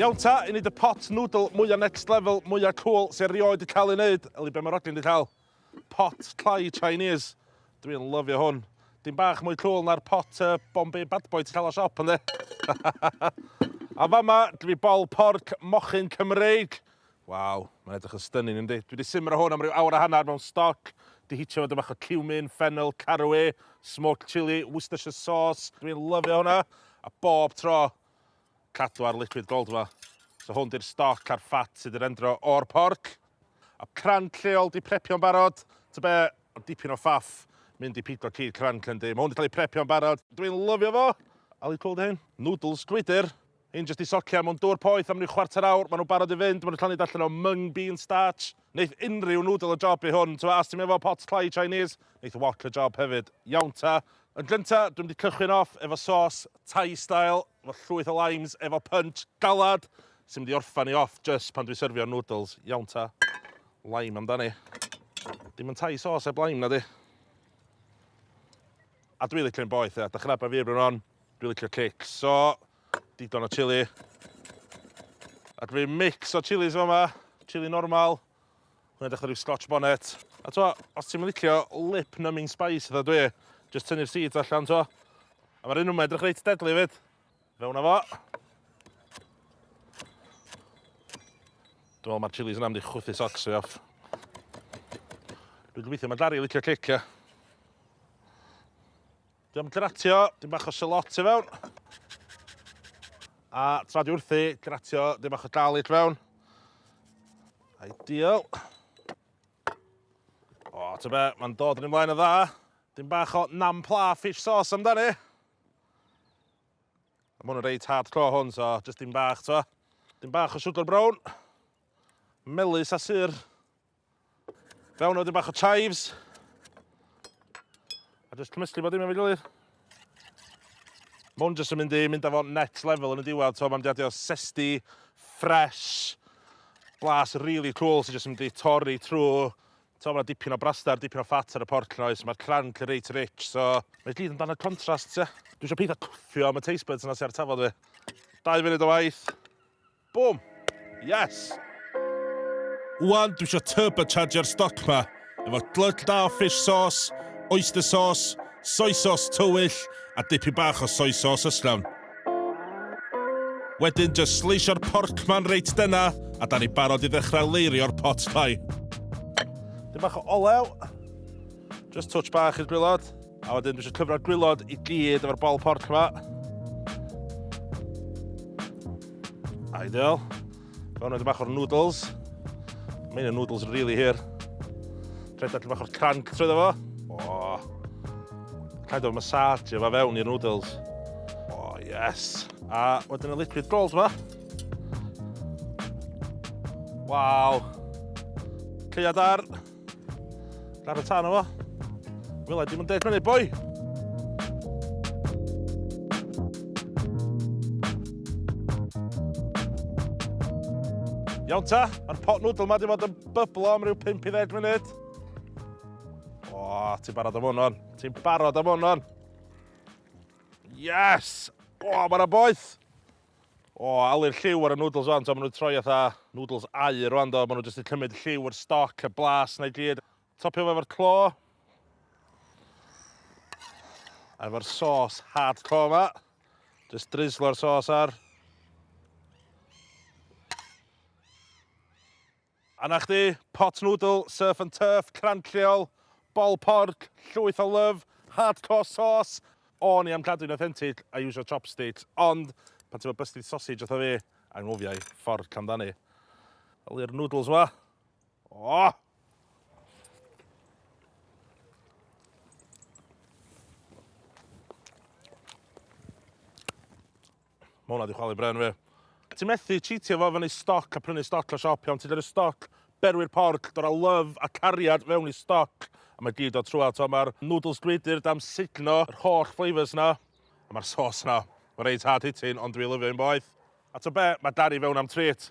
Iawn ta, i wneud y pot noodle mwya next level, mwya cool sy'n rioed di cael ei wneud, yli be mae Roglyn di cael. Pot tlai Chinese. Dwi'n lyfio hwn. Dim bach mwy cool na'r pot uh, Bombay Bad Boy ti'n cael o siop, ynddi? A fama, dwi bol porc mochyn Cymreig. Waw, mae'n edrych yn stunning yndi? Dwi wedi simro hwn am ryw awr a hanner mewn stoc, 'di hitio fo 'da bach o cumin, ffennel, caraway, smoked chilli, Worcestershire sauce, dwi'n lyfio hwnna, a bob tro, cadw ar liquid gold fo. So hwn 'di'r stoc a'r ffat sydd 'di rendro o'r porc. A cranc lleol 'di prepio'n barod, ta be, ond dipyn o faff mynd i pigo cig cranc yndi? Mae hwn 'di cael ei prepio'n barod, dwi'n lyfio fo! Ali cwrw 'di hyn? Noodles gwydyr! Hyn jyst i socian mewn dŵr poeth am ryw chwarter awr, maen nhw'n barod i fynd, maen nhw'n llawn i darllen o mung bean starch. Neith unrhyw noodle y job i hwn, t'mo' a os ti'm efo pot tlai Chinese, neith wok y job hefyd. Iawn ta. Yn gynta, dwi'm 'di cychwyn off efo sos Thai style, efo llwyth o limes, efo punch, galad, sy'n mynd i orffan i off jyst pan dwi'n syrfio'r noodles. Iawn ta. Lime amdani. Dim yn Thai sauce heb lime, nadi? A dwi licio un boeth, ia. Dach chi'n nabod fi erbyn hon. Dwi'n licio cic, so digon o chili. A dwi mix o chilis yn fama, chili normal, hwnna dechrau rhyw scotch bonnet. A to, os ti'n licio lip numbing spice dda dwi, just tynnu'r seeds allan to. A mae'r un yma edrych reit deadly fyd. Fewn fo. Dwi'n meddwl mae'r chilis yna mynd i chwythu socks fi off. Dwi'n gobeithio mae Dari licio cic, ia. Dwi am gratio dyn bach o shalot i fewn. A tra dwi wrthi, gratio dyn bach o garlic fewn. Ideal. O, ta be, mae'n dod yn ymlaen o dda. Dyn bach o nam pla fish sauce amdani. Mae hwn yn reit hard clo hwn, so jyst dyn bach, to. Dyn bach o siwgr brown. Melus a syr. Fewn o wedyn bach o chives. A jyst cymysgu bod dim efo'i gilydd. Mwn jyst yn mynd i mynd â fo net level yn y diwedd. So mae'n diadio sesti, fresh, blas really cool sy'n so jyst yn mynd i torri trwy So mae dipyn o brastar, dipyn o ffat ar y porc noes, mae'r cranc yn reit rich, so... Mae gyd yn dan y contrast, ie. Dwi eisiau pethau cwffio am y taste buds yna sy'n ar tafod fi. Dau funud o waith. Bwm! Yes! Ŵan dwi isio turbocharger stoc ma, efo glötch da o fish sauce, oyster sauce, soy sauce tywyll, a dipyn bach o soy sauce ysllawn. Wedyn jyst sleisio'r porc ma'n reit denna, a da ni barod i ddechrau leirio'r pot pie. Dipyn bach o olew, jyst twtsh bach i'r gwylod, a wedyn dwi isio cyfro'r gwylod i gyd efo'r bol porc ma. Ideal. Fewn edrych bach o'r noodles. Mae'n y noodles yn really hir. Rhaid allan bach o'r cranc trwy fo. Oh. Rhaid o'r massage efo fewn i'r noodles. Oh, yes. A wedyn y liquid rolls yma. Waw. Cleiad ar. Rhaid y tan o fo. Wela, dim yn deg fyny, boi! Iawn ta, mae'r pot nŵdl yma wedi bod yn byblo am ryw 5 i 10 munud. O, ti'n barod am hwnnw. Ti'n barod am hwnnw. Yes! O, mae'na boeth. O, alu'r lliw ar y noodles wan, t'o' ma' nhw'n troi fatha noodles aur wan do, ma' nhw jyst yn cymryd y lliw, yr stoc, y blas 'na i gyd. Topio fo efo'r clo. A efo'r sauce hardcore 'ma. Jyst dryslio'r sauce ar. A 'na chdi, pot noodle, surf and turf, crand lleol, bol porc, llwyth o love, hardcore sauce. O'n i am cadw'n authentic a iwsio chopsticks, ond pan ti efo busted sausage fatha fi, anghofia i, fork amdani. Wel i'r noodles wa. O! Mae hwnna wedi chwalu bren fi. Ti'n methu cheatio fo fyny stoc a prynu stoc o siop iawn. Ti'n dod y stoc, berwi'r porc, dod â love a cariad fewn i stoc. A mae gyd o trwa, to mae'r noodles gwydr dam sugno yr holl flavours na. A mae'r sauce na. Mae'n reit hard hitting, ond dwi lyfio un boeth. A to be, mae Dari fewn am treat.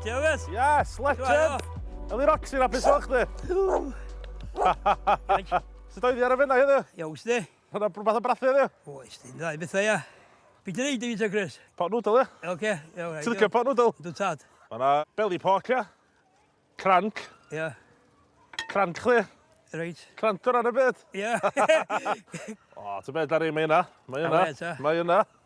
Dewes! Yes, legend! Eli Roxy, na beth o'ch chdi? Sut oedd i ar y fenna heddiw? Iawn, sdi. Hwna brwbath o brathu heddiw? Oes, di'n dda i bethau, ia. Beth yn ei dweud o, Chris? Pot noodle, ia? Oce, iawn. Ti'n licio pot noodle? Dwi'n tad. Mae yna belly pork, ia? Cranc. Ia. Cranc chdi. Reit. Cranc o ran y byd. Ia. o, ti'n beth ar ei, mae yna. Mae yna. Mae yna.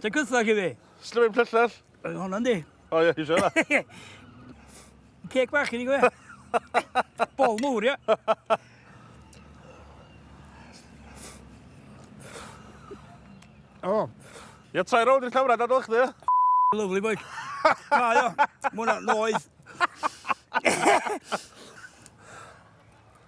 Ti'n cythach i fi? Slyfyn plyllell? Oedd hwnna yndi? O ie, eisiau hwnna. Ceg bach i ni gwe. Bol mwr, ia. O. Ia, trai rownd i'r camera, dadol chdi, ia? Lovely boy. Na, ia. Mwna noeth.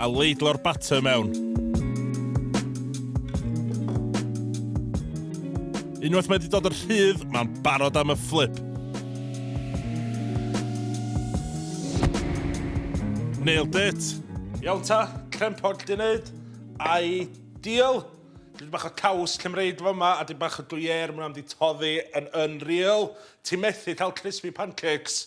a leidlo'r batter mewn. Unwaith mae wedi dod yn rhydd, mae'n barod am y fflip. Nailed it! Iawn ta, crempog di wneud. Ai deal? Dwi'n bach o caws Cymreig fo yma, a dwi'n bach o dwyer, mwyn am di toddi yn unreal. Ti'n methu cael crispy pancakes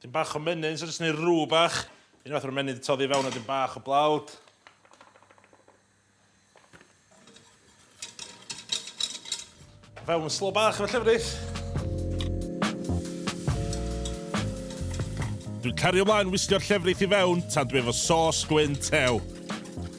Dyn bach o menyn, so jyst neud rŵ bach. Un fath o'r menyn di toddi fewn a dyn bach o blawd. Fewn yn slo bach efo llefrith. Dwi'n cario mlaen wislio'r llefrith i fewn tan dwi efo sos gwyn tew.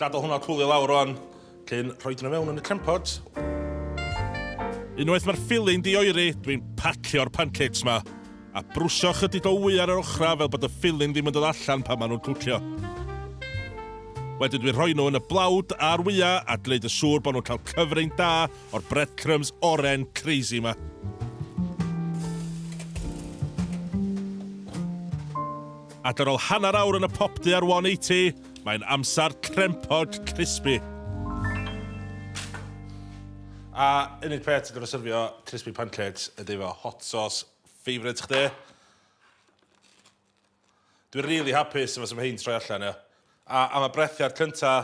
Gadael hwnna cwlio lawr rwan, cyn rhoi nhw mewn yn y crempot. Unwaith mae'r ffili'n dioeri, dwi'n pacio'r pancakes ma, a brwsio chydig o wy ar yr ochrau fel bod y ffili'n ddim yn dod allan pan maen nhw'n cwcio. Wedyn dwi'n rhoi nhw yn y blawd a'r wyau a gwneud y siŵr bod nhw'n cael cyfrwng da o'r breadcrumbs oren crazy ma. Ac ar ôl hanner awr yn y popty ar 180, Mae'n amser crempog crispy. A unig peth ti'n gorfod syrfio crispy pancakes ydy efo hot sauce favourite chdi. Dwi'n really hapus efo sef hyn troi allan, ia. A am y brethiad cynta,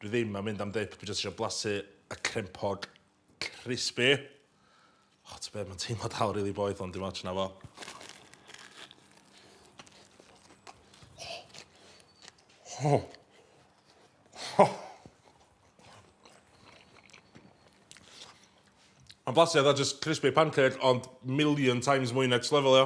Dwi ddim am mynd am dip, dwi jyst isio blasu y crempog crispy. O, ti'n beth, mae'n teimlo dal rili really boeth ond dim ots na fo. Oh. Oh. Mae'n blasu oedd just crispy pancake ond million times mwy next level, ia.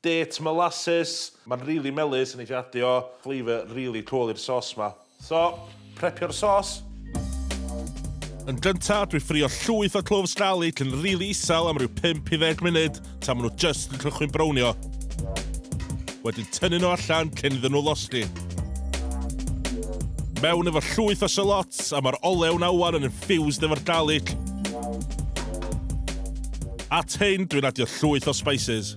Date molasses, ma'n rili melys a neith i adio flavour rili cwl i'r sos ma. So, prepio'r sos. Yn gynta, dwi ffrio llwyth o cloves garlic yn rili isel am ryw 5 i 10 munud tan ma nhw jyst yn cychwyn brownio. Wedyn tynnu nhw allan cyn iddyn nhw losgi. Mewn efo llwyth o shallots a ma'r olew na ŵan yn infused efo'r garlic. At hyn, dwi'n adio llwyth o spices.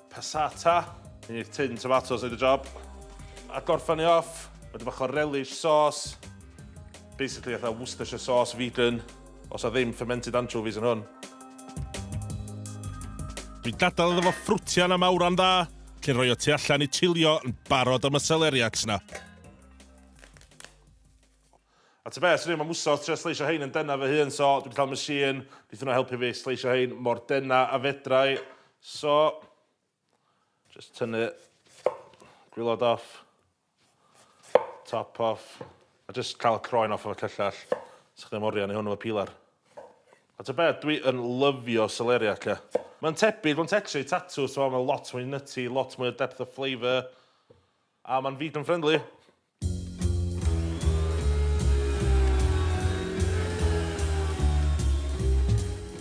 Passata, hyn yw tin tomatos neud y job. A gorffan ni off, wedyn bach o relish sauce. Basically fatha Worcestershire sauce vegan, os na ddim fermented anchovies yn hwn. Dwi'n gadael iddo fo ffrwtio yn am awran dda, cyn rhoi o tu allan i chilio yn barod am y seleriacs 'na. A ta be, swn i'm am wsos trio sleisio rhein yn denau fy hun, so dwi 'di cael machine, neith hwnna helpu fi sleisio rhein mor denau a fedra i. So, jyst tynnu gwilod off, top off, a jyst cael y croen off efo cyllell. Sech chdi am oriau neu hwn efo peeler. A ta be, dwi yn lyfio celeriac, ia. Mae'n tebyg, mae'n tetri i tatws, so mae'n lot mwy nutty, lot mwy o depth of flavour, a mae'n vegan friendly.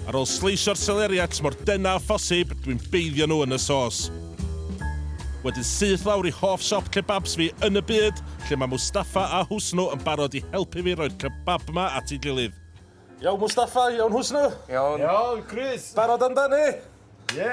Ar ôl sleisio'r seleriacs mor dynn â phosib, dwi'n beiddio nhw yn y sos. Wedyn syth lawr i hoff siop kebabs fi yn y byd, lle mae Mustafa a Husnu yn barod i helpu fi roi'r kebab 'ma at ei gilydd. Iawn Mustafa, iawn Husnu? Iawn. Iawn Chris. Barod amdani? Ie.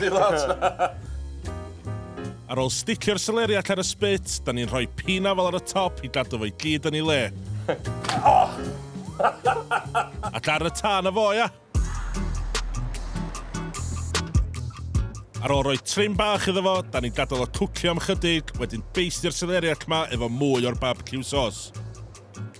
Dim ots! Ar ôl sticio'r seleriac ar y spit, da ni'n rhoi pinafal ar y top i gadw fo i gyd yn ei le. Ac ar y tân a fo, ia! Ar ôl rhoi trim bach iddo fo, da ni'n gadael o cwcio am chydig, wedyn beistio'r seleriac ma efo mwy o'r barbeciw sos.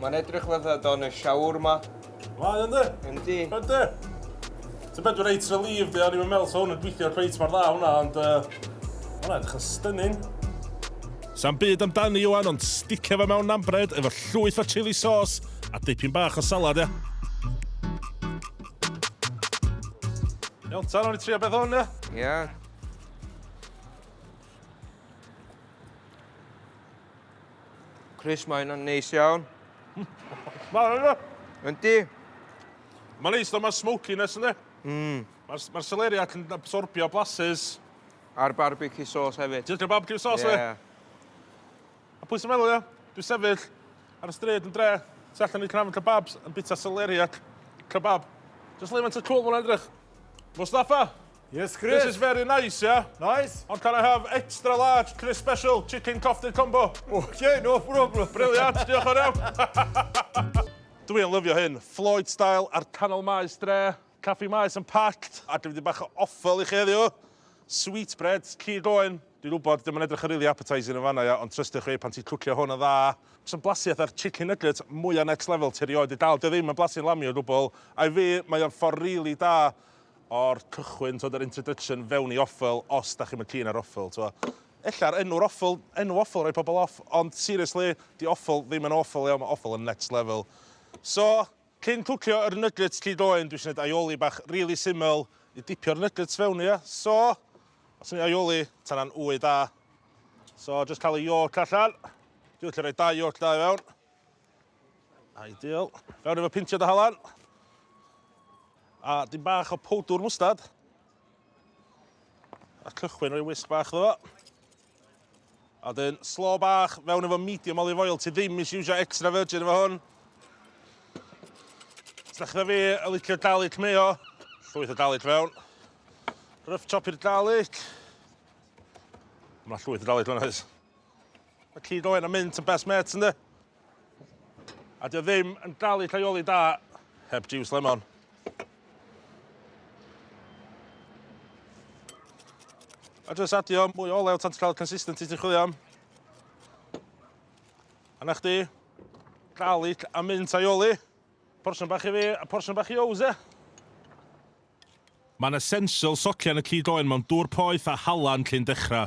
Mae'n edrych fatha don y siawr ma. Mae ynddi? Yndi. Ynddi. Ti'n beth dwi'n reit relieved i, o'n i'n meddwl sa hwn yn gweithio cweit mor dda hwnna, ond uh, hwnna edrych yn stunning. Sa'n byd amdani Iwan, ond sticio fe mewn nambred efo llwyth o chili sauce a dipyn bach o salad, ia. Iawn, tan o'n i trio beth hwn, ia? Ia. Chris, mae hynna'n neis iawn. Mae hynna. Yndi. Mae'n neis, mae'r smokiness ynddi. Mm. Mae'r ma celeriac yn absorbio blasus. A'r barbecue sauce hefyd. Ti'n barbecue sauce yeah. fe? A pwy sy'n meddwl, ia? Dwi'n sefyll ar y stryd yn dre, tu allan i'r cnafn kebabs yn bita celeriac kebab. Just leimant y cwl fo'n edrych. Mustafa, Yes, Chris. This is very nice, yeah? Nice. Ond can I have extra large Chris Special Chicken Coffee Combo? Okay, no problem. Brilliant, diolch yn iawn. Dwi'n lyfio hyn. Floyd style ar canol maes dre. Caffi maes yn packed. A dwi'n wedi bach o offel i chi heddiw. Sweet bread, key going. Dwi'n gwybod, dim yn edrych yn really appetising yn fanna, ia, ond trystio chi pan ti'n cwcio hwn yn dda. Sy'n blasu ar chicken nugget mwyaf next level ti rioed i dal. Dio ddim yn blasu'n lamio gwbl. I fi, mae o'n ffordd really da o'r cychwyn t'wod yr introduction fewn i offal os 'dach chi'm yn keen ar offal t'wo'. Ella'r enw'r offal, enw offal roi pobol off ond seriously 'di offal ddim yn awful iawn ma' offal yn next level. So, cyn cwcio yr nuggets cig oen dwi isio neud aioli bach rili syml i dipio'r nuggets fewn i ia? So, os ti'n neud aioli ta na'n ŵy da. So, jyst ca'l y yolk allan. Dwi licio roi dau yolk da i fewn. Ideal. Fewn efo pintio dy halan. A dim bach o powdwr mwstad. A cychwyn rhoi wisg bach ddo. A dyn, slo bach fewn efo medium olive oil. Ti ddim eisiau iwsio extra virgin efo hwn. Os da chi fi y licio garlic mayo, llwyth o garlic fewn. Rough chop i'r garlic. Mae llwyth o garlic fewn oes. Mae Llid Owen a Mynt yn best mates ynddo? A dio ddim yn dal i llaioli da heb jiws lemon. A jyst adio mwy o olew tan ti'n cael y consistency ti'n chwilio am. A na chdi, garlic a mint aioli. Porsiwn bach i fi a porsiwn bach i Ows, e? Mae'n essential socian y cyd oen mewn dŵr poeth a halan cyn dechrau.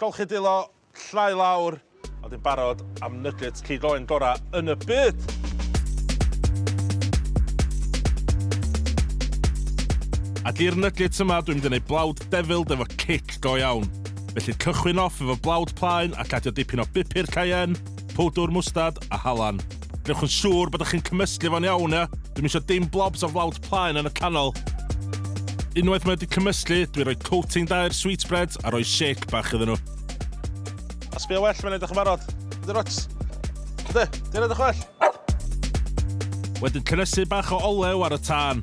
Golchi dwylo, llnau lawr, a wedyn barod am nuggets cig oen gora yn y byd! A di'r nuggets yma dwi'n mynd yn eu blawd devilled efo cic go iawn. Felly cychwyn off efo blawd plaen ac adio dipyn o bupur cayenne, powdwr mwstad a halan. Gwnewch yn siŵr bod chi'n cymysgu fo'n iawn, ia? Dwi'm eisiau dim blobs o flawd plaen yn y canol. Unwaith mae wedi cymysgu, dwi'n rhoi coating da i'r sweetbreads a rhoi shake bach iddyn nhw. A sbio well mae'n edrych yn barod. Ydy rots? Ydy, di'n edrych well? Wedyn cynnesu bach o olew ar y tân.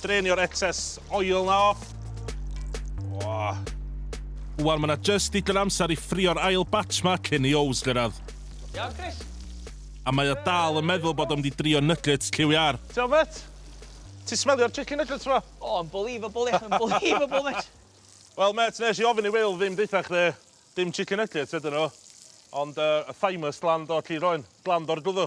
Drainio'r excess oil 'na off. Wah. Wan ma' 'na jyst digon amser i ffrio'r ail batch 'ma cyn i Owls gyrradd. Iawn Chris. A mae o dal yn meddwl bod o'n mynd i drio nuggets lliw iâr. T'wel' mêt? Ti smelio'r chicken nuggets 'ma? O unbelievable ie, unbelievable mêt. Wel mêt, nes i ofyn i Wil ddim deutha chdi dim chicken nuggets ydyn nhw, ond yy y famous glan do, lli roen, glan do'r gwddw.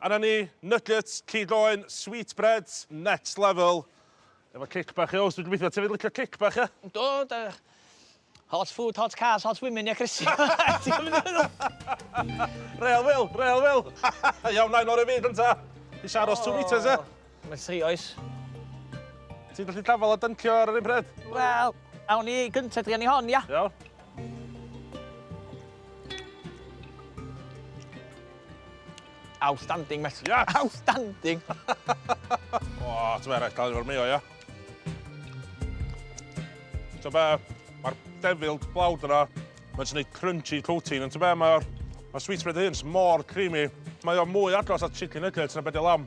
Arna ni, nuggets, cig oen, sweetbreads, next level. Efo cic bach i Owst, dwi'n gobeithio ti 'fyd licio cic bach, ia? Do, do. Hot food, hot cars, hot women, ia Chrissie? Real Wil, real Wil! Iawn, na, un o'r un fi gynta. Isio aros two metres, ia? Mae tri oes. Ti'n gallu dafal a dyncio ar yr un pryd? Wel, awn ni gyntaf drio ni hon, ia? Iawn. Outstanding, met. Yes! Outstanding! o, ti'n meddwl, rhaid cael ei fawr meo, ia? Ti'n be, mae'r devil blawd yna, mae'n sy'n gwneud crunchy coating, ond ti'n be, mae'r ma sweet bread hyn mor creamy. Mae o'n mwy agos at chicken nuggets na beth lam.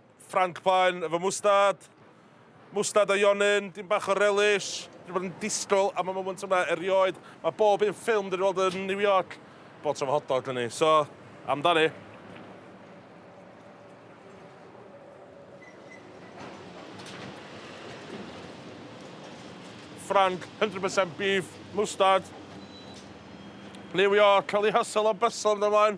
Ffranc plaen efo mwstad. Mwstad a ionyn, dim bach o relish. Dwi wedi bod yn disgwyl am y moment yma erioed. Mae bob un ffilm dwi wedi weld yn New York, bob tro efo hot dog ni. So, amdani. Ffranc, 100% beef, mwstad. New York, cael ei hysel o bysol yn ymlaen.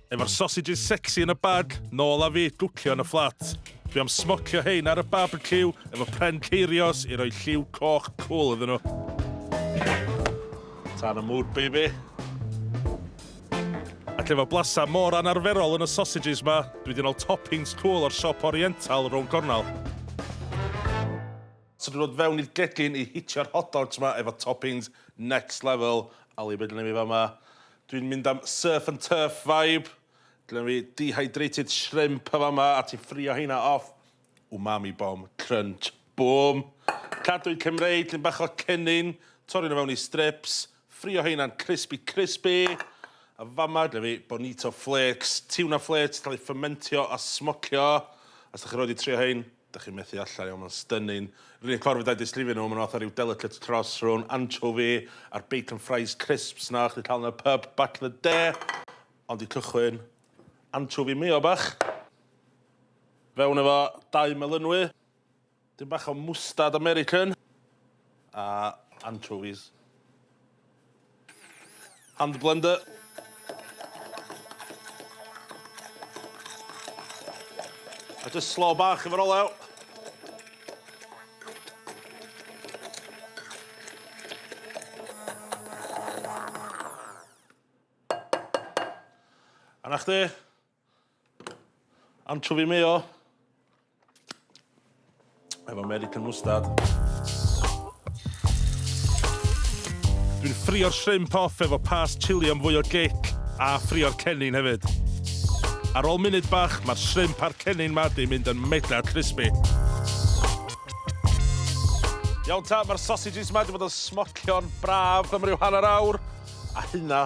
Efo'r sausages sexy yn y bag, nôl â fi, gwcio yn y fflat. Dwi am smocio hein ar y barbeciw efo pren ceirios i roi lliw coch cwl iddyn nhw. Tan y mood, baby. Ac efo blasa mor anarferol yn y sausages ma, dwi di nol toppings cwl o'r siop oriental rown gornel. So dwi'n dod fewn i'r gegin i hitio'r hot dogs ma efo toppings next level. Ali, be dyn ni fi fama? Dwi'n mynd am surf and turf vibe. Gynna fi dehydrated shrimp yn fama a ti'n ffrio heina off. Umami bomb, crunch, bwm. Cadwyn Cymreig, llun bach o cennin, torri nhw fewn i strips, ffrio heina'n crispy crispy. A fama, gynna fi bonito flakes, tuna flakes, cael ei ffymentio a smocio. Os da chi roed i trio hein, Dych chi'n methu allai ond mae'n stunning. Yr unig ffordd fedrai disgrifio nhw, maen nhw fatha rhyw delicate cross rhwng anchovi a'r bacon fries crisps 'na o'ch chdi cael yn y pub back in the day. Ond i cychwyn, anchovi mayo bach, fewn efo dau melynwy, dim bach o mwstard American, a anchovies. Hand blender. A just slow bach efo'r olew. A na chdi? Anchovi mayo. Efo American mustard. Dwi'n ffrio'r shrimp off efo pas chili am fwy o gic, a ffrio'r cennin hefyd. Ar ôl munud bach, mae'r shrimp a'r cennin ma di mynd yn mega crispy. Iawn ta, mae'r sausages ma di bod yn smocio'n braf am ryw hanner awr, a hynna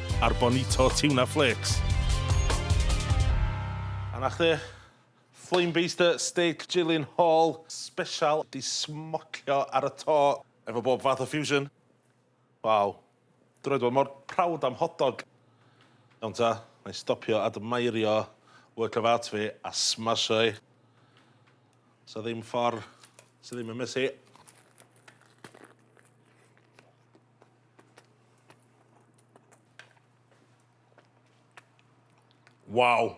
a'r bonito tuna flakes. A 'na chdi, flame baster steak Jillian Hall sbesial 'di smocio ar y to efo bob fath o fusion. Waw. Dwi rioed 'di bod mor proud am hot dog. Iawn ta, 'na i stopio admeirio work of art fi a smasho i. Sa ddim ffor sy ddim yn messy. Waw!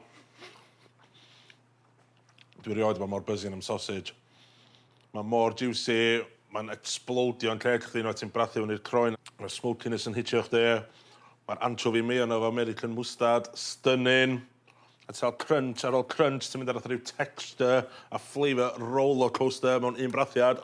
Dwi erioed 'di bod mor buzzing am sausage. Mae mor jiwsi, mae'n ecsblowdio'n lled chdi unwaith ti'n brathu hwn i'r croen. Mae'r smokiness yn hitio chdi. Mae'r anchovi mayo 'na efo American mustard, stunning. A ti cael crunch ar ôl crunch, ti'n mynd ar fatha rhyw texture a flavour rollercoaster mewn un brathiad.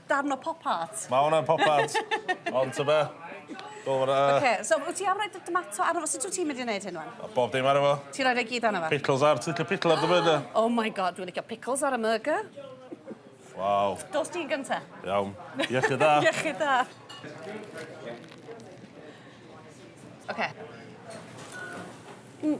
Darn o pop art. Mae hwnna'n pop art. Ond ta be? Oce, so wyt ti am rhoi dy domato arno fo? Sut wyt ti'n mynd i wneud hyn wan? A bob dim arno fo. Ti'n rhoi fe gyd arno fo? Pickles ar, ti'n licio pickle ar dy burger? Oh my God, dwi'n licio pickles ar y murger. Waw. Dos ti'n gynta. Iawn. Iechyd da. Iechyd da. Oce. Mm.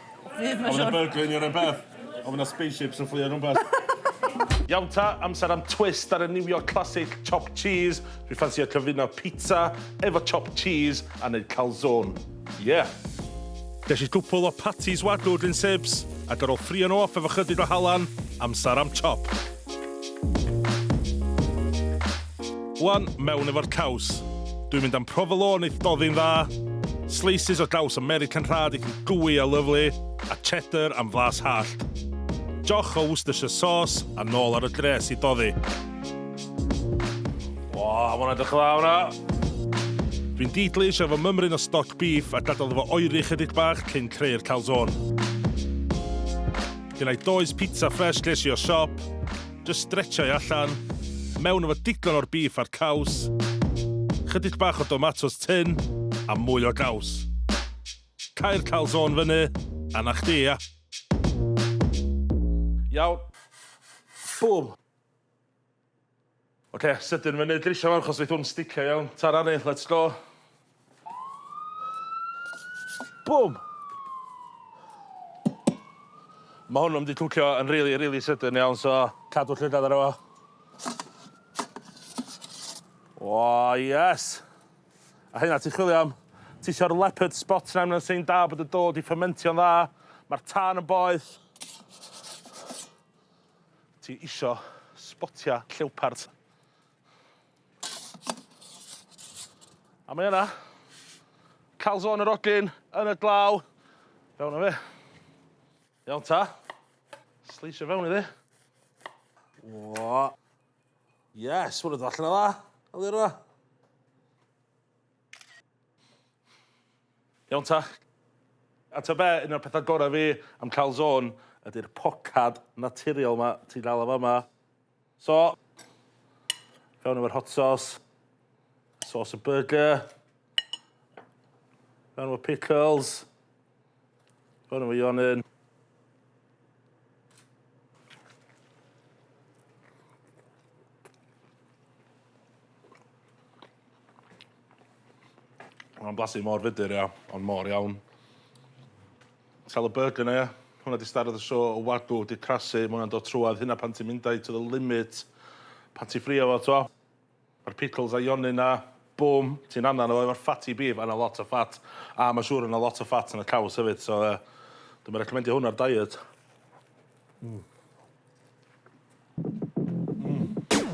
Fydd, mae'n siwr. Oedd yna burgler neu rywbeth? Oedd yna spaceships yn fflio rhywbeth? Iawn ta, amser am twist ar y New York classic, chopped cheese. Dwi ffansio cyfuno pizza efo chopped cheese a neud calzone. Yeah! Gesh i gwpwl o patties wagyu gin Sibs, ac ar ôl ffrïo nhw off efo chydig o halan, amsar am chop. Wan, mewn efo'r caws. Dwi'n mynd am provolone i'th doddi'n dda, slices o gaws American rhad i'th gooey a lyfli, a cheddar am flas hallt. Joch o Worcestershire sauce a nôl ar y dres i doddi. Wa, ma' hwnna'n edrych yn dda hwnna! Dwi'n deedlish efo mymryn o stoc beef a gadael iddo fo oeri chydig bach cyn creu'r calzone. Lle na i does pizza ffresh ges i o siop, jyst stretsio i allan, mewn efo digon o'r bîff a'r caws, chydig bach o domatos tun a mwy o gaws. Cau'r calzone fyny a 'na chdi ia. Iawn. Bum! Oce, sydyn fyny drisio fo achos neith hwn sticio iawn. Tara ni, let's go. Bwm! Ma' hwn yn mynd i cwcio yn rili rili sydyn iawn so cadw llygad arno fo. O yes! A hynna ti'n chwilio am? Ti isio'r leopard spot 'na mae'n sign da bod y do 'di ffymentio'n dda. Ma'r tân yn boeth. Ti isio sbotia llewpart. A mae yna. Calzone yr odyn yn y glaw. Fewn o fe. Iawn ta. Sleisio fewn iddi. O. Yes, hwnnw dod allan o dda. Aliro. Iawn ta. A ta be, un o'r pethau gorau fi am cael zôn ydy'r pocad naturiol ma ti'n cael o fama. So, fewn efo'r hot sauce, sauce y burger, fewn efo pickles, Hwn yw Ion yn. Mae'n blasu mor fudur, ia, ond mor iawn. Sal y burger na, ia. Hwna di starad y sio o wagw, di crasu, mae hwnna'n dod trwad hynna pan ti'n mynd i to the limit, pan ti'n ffrio fo, to. Ma'r pickles a yonyn na, bum, ti'n annan o efo'r fatty beef a na lot o ffat, a ma siŵr o na lot o ffat yn y caws hefyd, so yy dwi'm yn recommendio hwn ar diet. Mm. Mm.